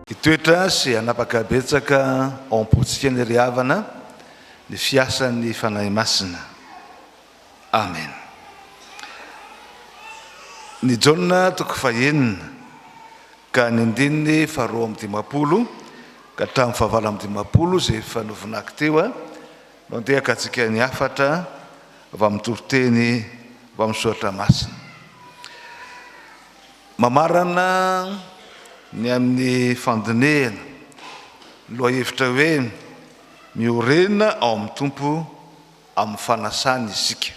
Hitoetra sy hanapaka betsaka ao am-pontsika ny ry havana, ny fiasan'ny Fanahy Masina. Amen. Ny Jaona toko fahenina ka ny andininy faharoa amby dimampolo ka hatramin'ny fahavalo amby dimampolo izay efa novinako teo a no andehaka antsika ny hafatra avy amin'ny toriteny avy amin'ny soratra masina. Mamarana ny amin'ny fandinehana lohahevitra hoe miorena ao amin'ny Tompo amin'ny fanasana isika.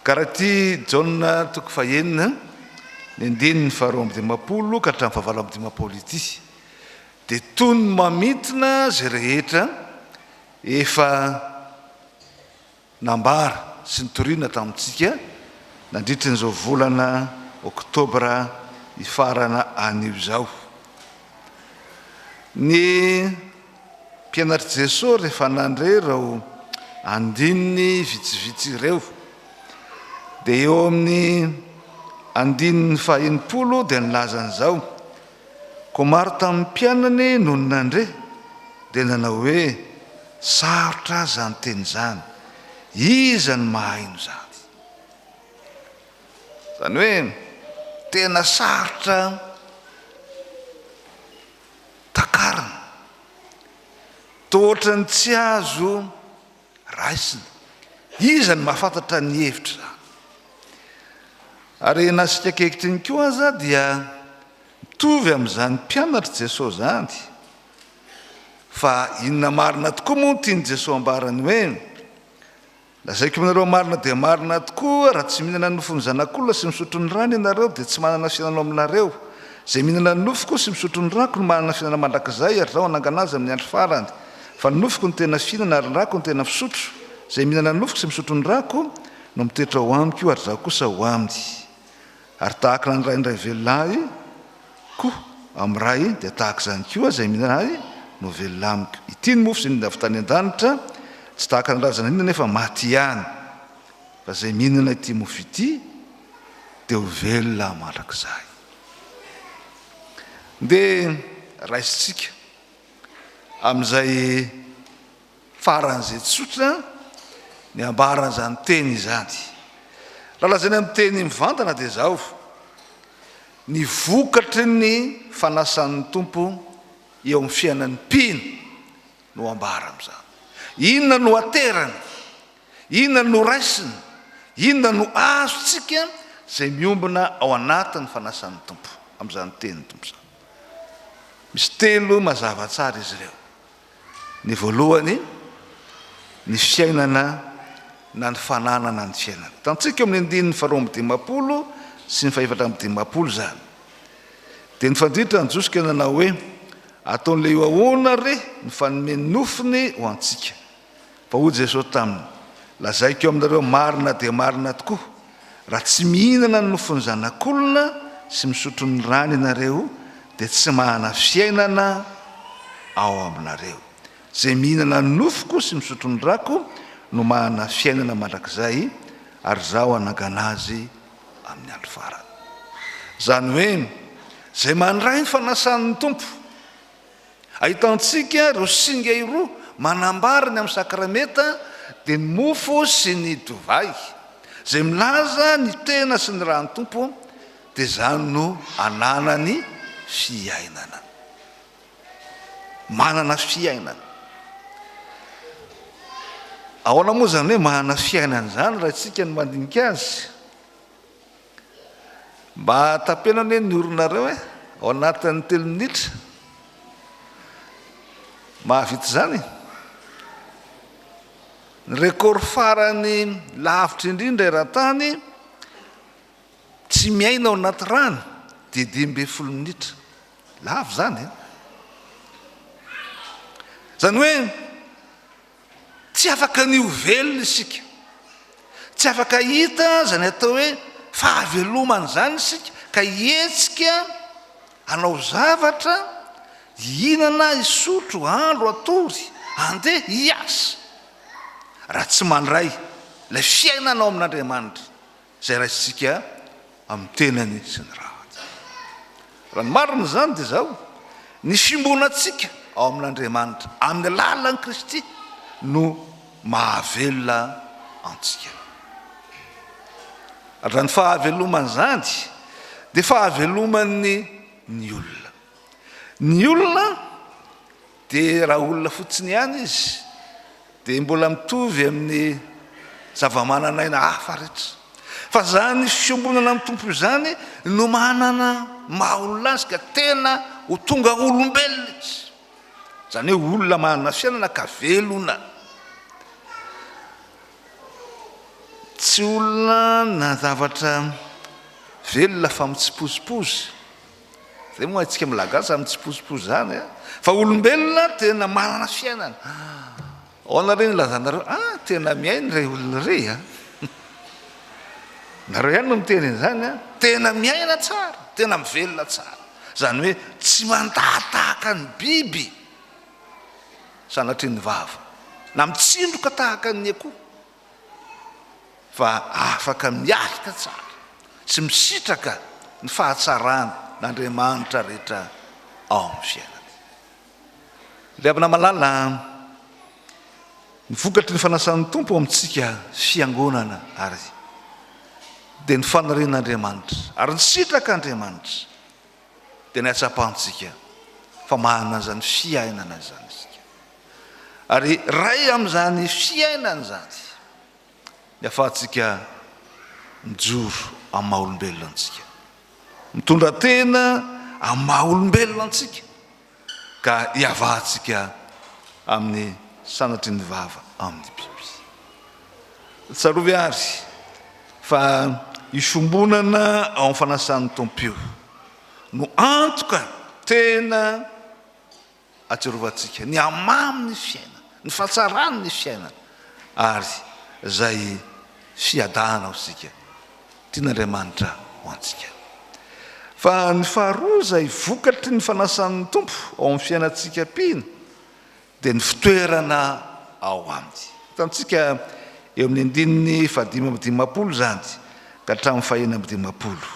Ka raha ity Jaona toko fahenina, ny andininy faharoa amby dimampolo ka hatramin'ny fahavalo amby dimampolo ity, dia toy ny mamintina izay rehetra efa nambara sy nitoriana tamintsika nandritry an'izao volana oktobra hifarana anio izao. Ny. Mpianatr'i Jesoa rehefa nandre ireo andininy vitsivitsy ireo, dia eo amin'ny andininy fahenimpolo dia nilaza an'izao, Koa maro tamin'ny mpianany nony nandre dia nanao hoe, Sarotra izany teny izany, iza no mahaino izany? Izany hoe tena sarotra Takarina. Toa ohatran'ny tsy azo raisina. Iza no mahafantatra ny hevitra izany? Ary na isika ankehitriny koa aza dia mitovy amin'izany mpianatr'i Jesoa izany. Fa inona marina tokoa moa no tian'i Jesoa ambarany hoe. Lazaiko aminareo marina dia marina tokoa, raha tsy mihinana ny nofon'ny Zanak'olona sy misotro ny rany ianareo dia tsy manana fiainana ao aminareo. Izay mihinana ny nofoko sy misotro ny rako no manana fiainana mandrakizay ary Izaho hanangana azy amin'ny andro farany. Fa ny nofoko no tena fihinana ary ny rako no tena fisotro. Izay mihinana ny nofoko sy misotro ny rako no mitoetra ao Amiko ary Izaho kosa ao aminy. Ary tahaka ny an'Ray indray velona Ahy koa, amin'ny Ray dia tahaka izany koa izay mihinana Ahy no velona amiko. Ity ny mofo izay nindra avy tany an-danitra, tsy tahaka ny razana inona nefa maty ihany, fa izay mihinana ity mofo ity dia ho velona mandrakizay. Ndeha raisintsika amin'izay. Faran'izay tsotra ny ambaran'izany teny izany. Raha lazaina amin'ny teny mivantana dia izao, ny vokatry ny fanasan'ny Tompo eo amin'ny fiainan'ny mpino no ambara amin'izany. Inona no aterany? Inona no noraisiny? Inona no azontsika izay miombona ao anatin'ny fanasan'ny Tompo amin'izany tenin'ny Tompo izany? Misy telo mazava tsara izy ireo. Ny voalohany, ny fiainana na ny fananana ny fiainana. Hitantsika eo amin'ny andininy faharoa amby dimampolo sy ny fahefatra amby dimampolo izany. Dia nifandritra ny Jiosy ka nanao hoe, Ataon'ilay io ahoana re ny fanome ny nofony ho antsika? Fa hoy Jesosy taminy, Lazaiko aminareo marina dia marina tokoa, raha tsy mihinana ny nofon'ny Zanak'olona sy misotro ny rany ianareo dia tsy mahana fiainana ao aminareo. Izay mihinana ny nofoko sy misotro ny rako no mahana fiainana mandrakizay, ary Izaho hanangana azy amin'ny andro farany. Izany hoe, izay mandray ny fanasan'ny Tompo. Ahitantsika ireo singa iroa manambara ny amin'ny sakramenta dia ny mofo sy ny dovay, izay milaza ny tena sy ny ran'ny Tompo dia izany no ananany fiainana. Manana fiainana. Ahoana moa izany hoe manana fiainana izany raha isika no mandinika azy? Mba tapeno anie ny oronareo e, ao anatin'ny telo minitra. Mahavita izany? Ny record farany lavitra indrindra eran-tany, tsy miaina ao anaty rano, dia dimy ambin'ny folo minitra. Lava izany e. Izany hoe, Tsy afaka ny ho velona isika. Tsy afaka hita izany atao hoe fahavelomana izany isika ka hihetsika hanao zavatra, hihinana, hisotro, handro, hatory, handeha, hiasa, raha tsy mandray ilay fiainana ao amin'Andriamanitra. izay raisintsika amin'ny tenany sy ny rahany. Raha ny marina izany dia izao, ny fiombonantsika ao amin'Andriamanitra amin'ny alalan'i Kristy no mahavelona antsika. Ary izany fahavelomana izany dia fahaveloman'ny ny olona. Ny olona Dia raha olona fotsiny ihany izy dia mbola mitovy amin'ny zavamananaina hafa rehetra. Fa izany fiombonana amin'ny Tompo izany no manana maha olona azy ka tena ho tonga olombelona izy. Izany hoe olona manana fiainana ka velona. Tsy olona na zavatra velona fa mitsipozipozy. Zay moa haintsika mlagasy zany tsipozipozy zany a! Fa olombelona tena manana fiainana! Aona re ny lazanareo a! Tena miaina re olona re a! Nareo ihany no miteny an'izany a! Tena miaina tsara! Tena mivelona tsara! Zany hoe tsy mandaha tahaka ny biby sanatria ny vava na mitsindroka tahaka ny akoho! fa afaka miaritra tsara sy misitraka ny fahatsaran' Andriamanitra rehetra ao amin'ny fiainany. Ilay havana malala an! Ny vokatry ny fanasan'ny Tompo ao amintsika Fiangonana ary dia ny fanarin' Andriamanitra ary ny sitrak' Andriamanitra. dia ny hatsapantsika fa manana izany fiainana izany isika. Ary ray amin'izany fiainana izany ny afatsika mijoro amin'ny maha olombelona antsika. Mitondra tena amin'ny maha olombelona antsika. ka hiavahantsika amin'ny sanatry ny vava amin'ny biby. Tsarovy àry fa io fiombonana ao amin'ny fanasan'ny Tompo io no antoka tena atsiarovantsika ny hamamin'ny fiainana, ny fahatsaran'ny fiainana ary izay fiadanana ho antsika. Tian'Andriamanitra ho antsika. Fa ny faharoa izay vokatry ny fanasan'ny Tompo ao amin'ny fiainantsika mpino dia ny fitoerana ao Aminy. Hitantsika eo amin'ny andininy fahadimy amby dimampolo izany ka hatramin'ny fahenina amby dimampolo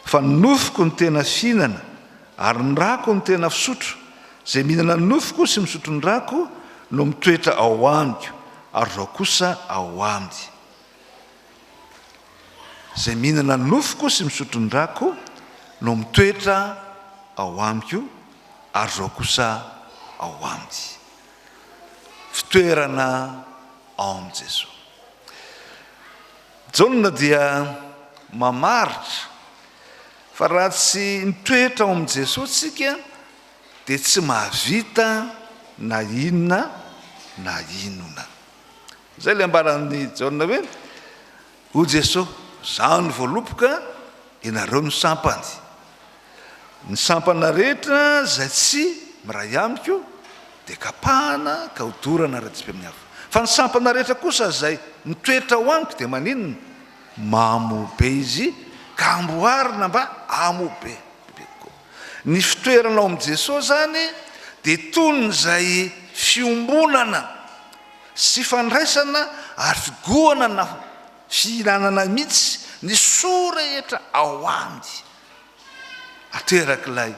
fa ny nofoko no tena fihinana ary ny rako no tena fisotro. Izay mihinana ny nofoko sy misotro ny rako no mitoetra ao Amiko ary Izaho kosa ao Aminy. Izay mihinana ny nofoko sy misotro ny rako no mitoetra ao amiko, ary Izaho kosa ao aminy. Fitoerana ao amin'i Jesoa. Jaona dia mamaritra fa raha tsy mitoetra ao amin'i Jesoa isika dia tsy mahavita na inona na inona. Izay ilay ambaran'i Jaona hoe, O Jeso, izaho no voaloboka, ianareo no sampany. Ny sampana rehetra izay tsy miray amiko dia kapahana ka hodorana ara-dipy amin'ny afo. Fa ny sampana rehetra kosa izay mitoetra ao amiko dia maninona? Mamo be izy ka amboarina mba hamo be be kokoa. Ny fitoerana ao amin'i Jeso izany dia toy ny izay fiombonana. sy fandraisana ary figohana na fihinanana mihitsy ny soa rehetra ao aminy aterak'ilay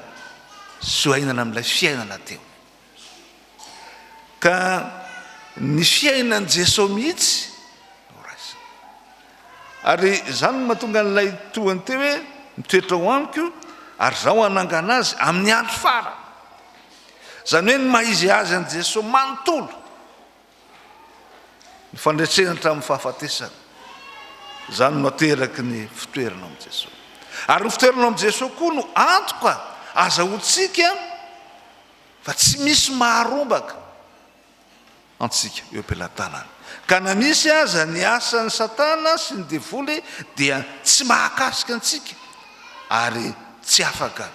soainana amin'ilay fiainana teo ka ny fiainan'i Jeso mihitsy no raisina ary izany no mahatonga an'ilay tohany teo hoe mitoetra ao amiko ary zaho hanangana azy amin'ny andro farany Izany hoe ny maha-izy azy an'i Jesoa manontolo ny fandreseny hatramin'ny fahafatesany. Izany no ateraky ny fitoerana ao amin'i Jesoa. Ary ny fitoerana ao amin'i Jesoa koa no antoka azahoantsika fa tsy misy maharombaka. antsika eo am-pelatanana. Ka na misy aza ny asan'i Satana sy ny Devoly dia tsy mahakasika antsika ary tsy afaka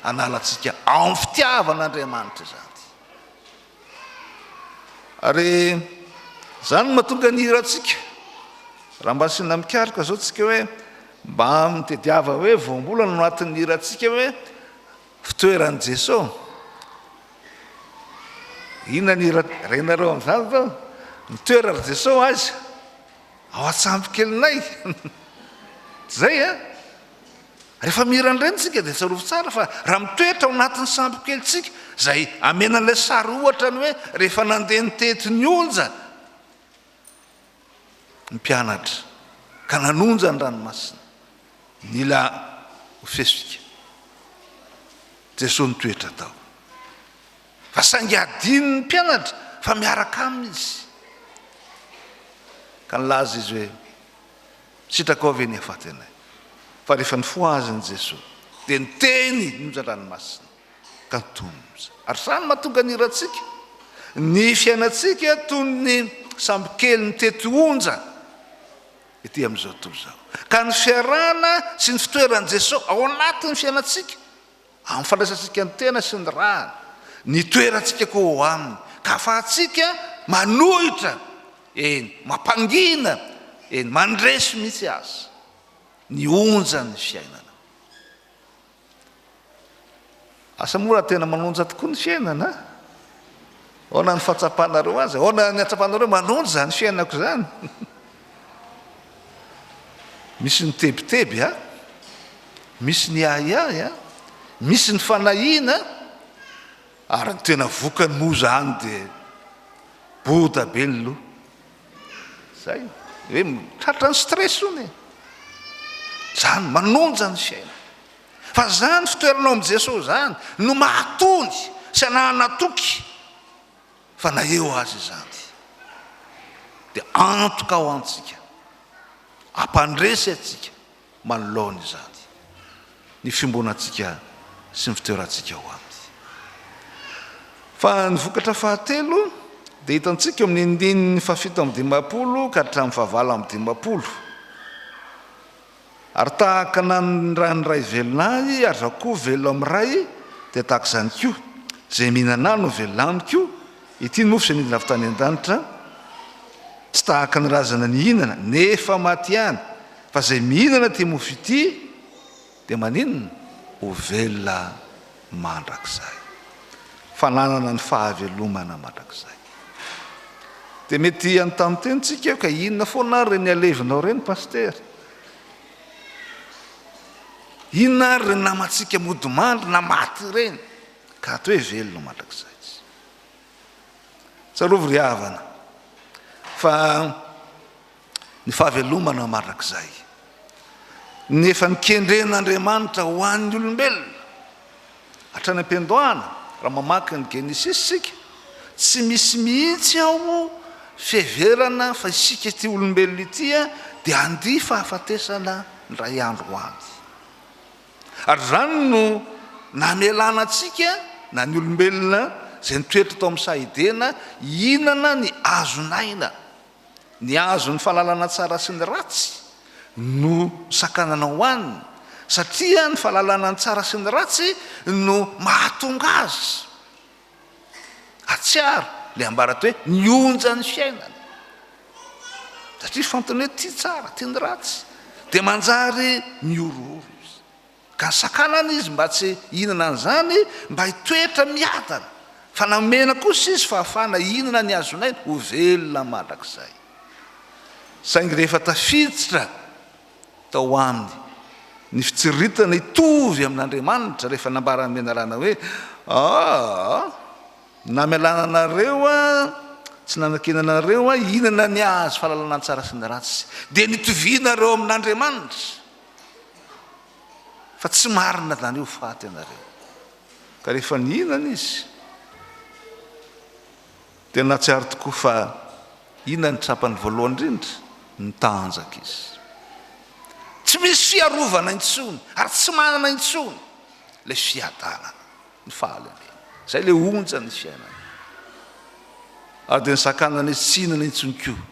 hanala antsika ao amin'ny fitiavan'Andriamanitra izany. Ary izany no mahatonga ny hira antsika, raha mba asiana mikaroka izao antsika hoe mba mitadiava hoe voambolana ao anatin'ny hira antsika hoe, Fitoeran'i Jeso? Inona ny renareo amin'izany zao? Nitoera ry Jeso aiza? Ao an-tsambo kelinay. Tsy zay an? Rehefa mihiran-dreny tsika dia tsarovy tsara fa raha mitoetra ao anatin'ny sambo kely tsika, zay amena an'ilay sary ohatra ny hoe rehefa nandeha nitety ny onja, ny mpianatra ka nanonja ny ranomasina. Nila ho fesvika Jesoa nitoetra tao. Fa saingy hadinon'ny mpianatra fa miaraka Aminy Izy. Ka nilaza Izy hoe, Sitraka ao ve ny hafaty anay? Fa rehefa nifoha azy ny Jesoa, dia niteny nonja ny ranomasina. Katoza. Ary izany mahatonga ny hirantsika, ny fiainantsika toy ny sambokely mitety onja ity amin'izao tontolo izao. Ka ny fiarahana sy ny fitoeran'i Jesoa ao anatin'ny fiainantsika, amin'ny fandraisantsika ny tena sy ny ràny, ny itoerantsika koa ao Aminy, ka ahafahantsika manohitra, eny, mampangina, eny, mandresy mihitsy aza, ny onjan'ny fiainana. Asa moa raha tena manonja tokoa ny fiainana a? Ahoana ny fahatsapanareo azy? Ahoana ny hatsapanareo manonja izany fiainako izany? Misy ny tebiteby a, misy ny ahiahy a, misy ny fanahiana, ary ny tena vokany moa izany dia boda be ny loha. Zay. Hoe tratra ny stress hono e. Zany manonja ny fiainana. Fa zany fitoeranao amin'i Jesoa zany no mahatony sy anahana toky fa na eo aza izany dia antoka ho antsika, hampandresy antsika Manoloana izany, ny fiombonantsika sy ny fitoerantsika ao Aminy. Fa ny vokatra fahatelo dia hitantsika eo amin'ny andininy fahafito amby dimampolo ka hatramin'ny fahavalo amby dimampolo, Ary tahaka ny nanindran'ny Ray velona Ahy, ary Izaho koa velona amin'ny Ray, dia tahaka izany koa, izay mihinana Ahy no velona Amiko, ity ny mofo izay nidina avy tany an-danitra, tsy tahaka ny razana nihinana, nefa matiany, Fa izay mihinana ity mofo ity dia maninona? Ho velona mandrakizay. Fananana ny fahavelomana mandrakizay. Dia mety hanontany tena isika hoe ka inona foana ary ireny alevinao ireny Pasitera? Inona ary ireny namantsika mody mandry na maty ireny ka ato hoe velona mandrakizay tsy? Tsarovy ry havana fa ny fahavelomana mandrakizay, ny efa nikendren'Andriamanitra ho an'ny olombelona hatrany am-piandohana, raha mamaky ny Genesisy isika, tsy misy mihitsy ao fiheverana fa isika ity olombelona ity dia handia fahafatesana indray andro ho avy. Ary izany no namelana antsika, na ny olombelona izay nitoetra tao amin'ny saha Edena, hihinana ny hazon'aina. Ny azo ny fahalalana tsara sy ny ratsy no sakanana ho an'ny satria ny fahalalana ny tsara sy ny ratsy no mahatonga azy hatsiaro ilay ambarany hoe ny onjan'ny fiainana satria fantany hoe tia tsara tia ny ratsy dia manjary mihorohoro izy Ka sakanana izy mba tsy hihinana an'izany mba hitoetra miadana, fa namena kosa izy fahafahana hihinana ny hazon'aina ho velona mandrakizay. Saingy rehefa tafiditra tao aminy ny fitsiriritana hitovy amin'Andriamanitra rehefa nambaran'ny menarana hoe, Aa! na mialana anareo aho, tsy nanakena anareo aho hihinana ny hazo fahalalana ny tsara sy ny ratsy, dia nitovianareo amin'Andriamanitra. fa tsy marina zany io faty ianareo ka rehefa nihinana izy dia nahatsiaro tokoa fa inona ny trapany voalohany indrindra ny tanjaka izy tsy misy fiarovana intsony ary tsy manana intsony le fiadanana ny fahalemena zay le onjan'ny fiainana ary dia ny sakanana izy tsy hinana intsony koa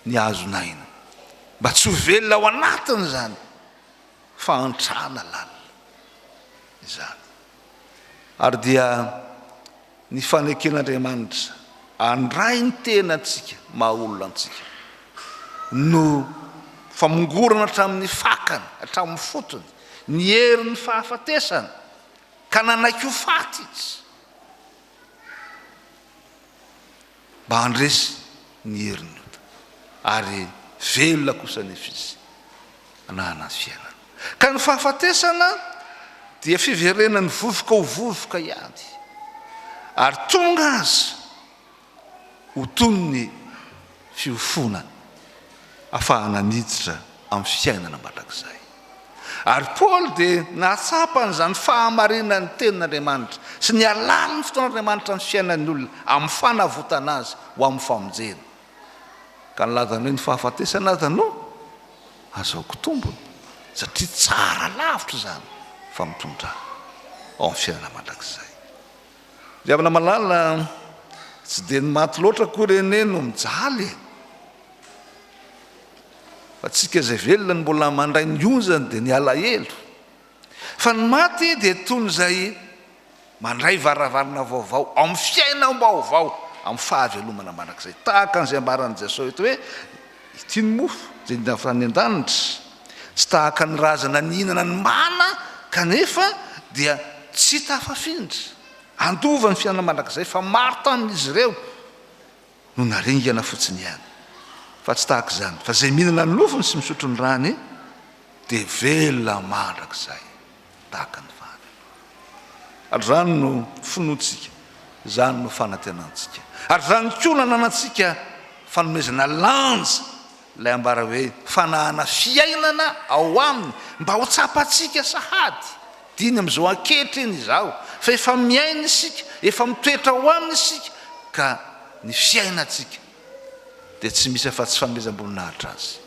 ny hazon'aina mba tsy ho velona ao anatiny izany fahantrana lalina izany. Ary dia ny faneken'Andriamanitra handray ny tenantsika maha olona antsika no famongorana hatramin'ny fakany, hatramin'ny fotony, ny herin'ny fahafatesana, ka nanaiky ho faty Izy. mba handresy ny herin'ny ota, ary velona kosa anefa izy hanahana ny fiainana. Ka ny fahafatesana dia fiverenan'ny vovoka ho vovoka ihany, ary tonga aza ho toy ny fiofoana afahana miditra amin'ny fiainana mandrakizay. Ary Paoly dia nahatsapa an'izany fahamarinan'ny Tenin'Andriamanitra sy ny halalin'ny fotoan'Andriamanitra ny fiainan'ny olona amin'ny fanavotana azy ho amin'ny famonjena. Ka nilazany hoe ny fahafatesana aza no azahoako tombony satria tsara lavitra izany fa mitondra ao amin'ny fiainana mandrakizay. Ry havana malala, tsy dia ny maty loatra akory anie no mijaly e! Fa tsika izay velona no mbola mandray ny onjany dia ny alahelo. Fa ny maty dia toy ny izay mandray varavarana vaovao amin'ny fiainam-baovao, amin'ny fahavelomana mandrakizay. Tahaka an'izay ambaran'i Jesosy eto hoe, Ity ny mofo izay nidavran'ny an-danitra. Tsy tahaka ny razana nihinana ny mana kanefa dia tsy tafafindra. Handova ny fiainana mandrakizay fa maro tamin'izy ireo no naringana fotsiny ihany. Fa tsy tahaka izany fa izay mihinana ny nofony sy misotro ny rany dia velona mandrakizay. tahaka ny fahavelomana. Ary izany no finoantsika, izany no fanantenantsika. Ary izany koa no ananantsika fanomezana lanja, ilay ambara hoe fanahana fiainana ao Aminy, mba ho tsapantsika sahady. Diny amin'izao ankehitriny izao, fa efa miaina isika, efa mitoetra ao Aminy isika, ka ny fiainantsika dia tsy misy afa-tsy fanomezam-boninahitra Azy.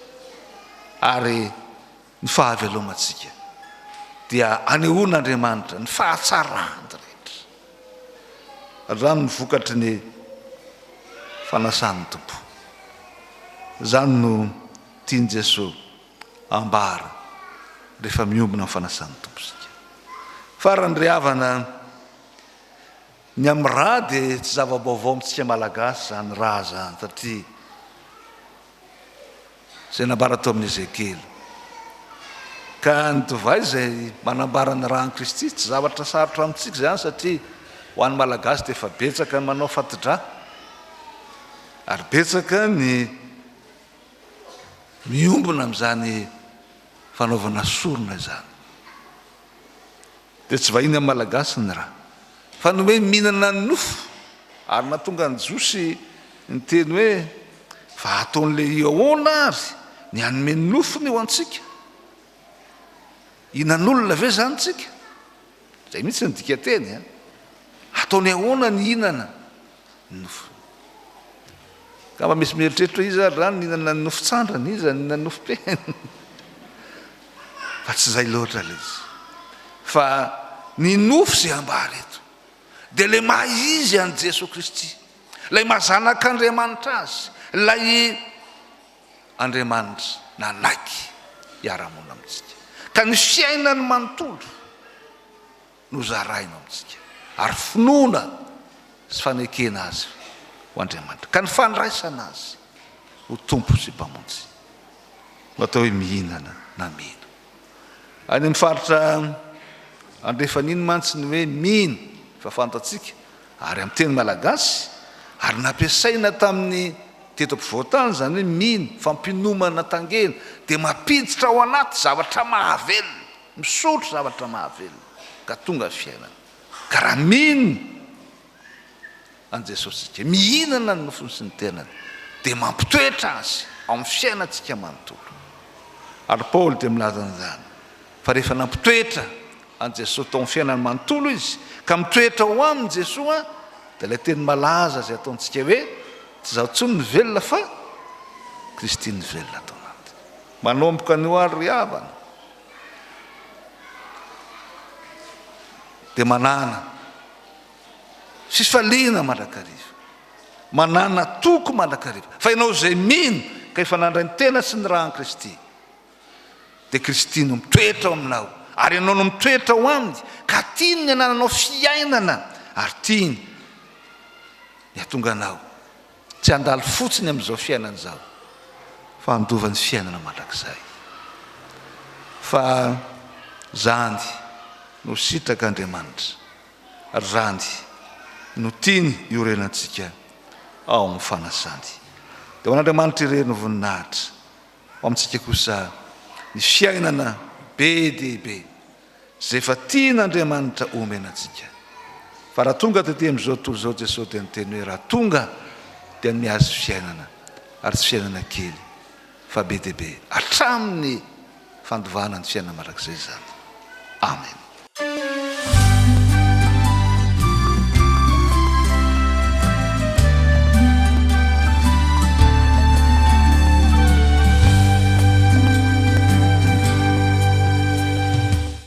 Ary Ny fahavelomantsika dia anehoan'Andriamanitra ny fahatsarany rehetra hatramin' ny vokatry ny fanasan'ny Tompo. Izany no tian'i Jesoa ambara rehefa miombona ny fanasan'ny Tompo isika. Farany ry havana, ny amin'ny ra dia tsy zava-baovao amintsika Malagasy izany ra izany satria Izay nambara tao amin'i Ezekiela. Ka ny divay izay manambara ny ran'i Kristy. Tsy zavatra sarotra amintsika izany satria ho an'ny Malagasy dia efa betsaka ny manao fati-dra. Ary betsaka ny miombona amin'izany fanaovana sorona izany. Dia tsy vahiny amin'ny Malagasy ny ra. Fa nomeny mihinana ny nofo ary nahatonga an'i Jiosy niteny hoe, Fa hataon'i Lehia ahoana àry ny hanome ny nofony ho antsika? Hihinan'olona ve izany isika? Izay mihitsy no dikanteny. Hataony ahoana ny hihinana? nofo. Angamba misy mieritreritra hoe iza ary raha nihinana ny nofo tsandrana, iza nihinana ny nofo pehiny? Fa tsy izay loatra ilay izy. Fa ny nofo izay ambara eto dia ilay maha izy an'i Jesoa Kristy, ilay maha zanak'Andriamanitra azy, ilay Andriamanitra nanaiky hiara-hamonina amintsika. Ka ny fiainany manontolo. nozaraina amintsika, ary finoana sy fanekena Azy ho Andriamanitra, ka ny fandraisana Azy ho Tompo sy Mpamonjy no atao hoe mihinana na mino. Any amin'ny faritra andrefan'iny mantsy ny hoe mino efa fantatsika ary amin'ny teny malagasy, ary nampiasaina tamin'ny teto ampovoan-tany izany hoe mino, fampinomana tangena, dia mampiditra ao anaty zavatra mahavelona. Misotro zavatra mahavelona ka tonga fiainana, ka raha mino an'i Jesosy isika, mihinana ny nofony sy ny tenany, dia mampitoetra Azy ao amin'ny fiainantsika manontolo. Ary Paoly dia milaza an'izany, fa rehefa nampitoetra an'i Jesosy tao amin'ny fiainany manontolo izy, ka mitoetra ao aminy Jesoa, dia ilay teny malaza izay ataontsika hoe, Tsy izaho intsony no velona fa Kristy no velona ato anatiko. Manomboka anio ary ry havana, dia manana fifaliana mandrakariva, manana toko mandrakariva. Fa ianao izay mino ka efa nandray ny tena sy ny ràn'i Kristy, dia Kristy no mitoetra ao aminao, ary ianao no mitoetra ao Aminy, ka tiany ny hanananao fiainana, ary tiany ny hatonga anao. Tsy handalo fotsiny amin'izao fiainana izao fa handova ny fiainana mandrakizay. Fa zany no sitrak' Andriamanitra ary zany no tiany iorenantsika ao amin'ny fanasany. Dia ho an'Andriamanitra irery ny voninahitra, ho amintsika kosa ny fiainana be dia be. izay efa tian'Andriamanitra omena antsika. Fa raha tonga tetỳ amin'izao tontolo izao Jesosy dia niteny hoe, Raha tonga, dia ny mihazo fiainana, ary tsy fiainana kely, fa be dia be, hatramin'ny fandovana ny fiainana mandrakizay izany. Amena.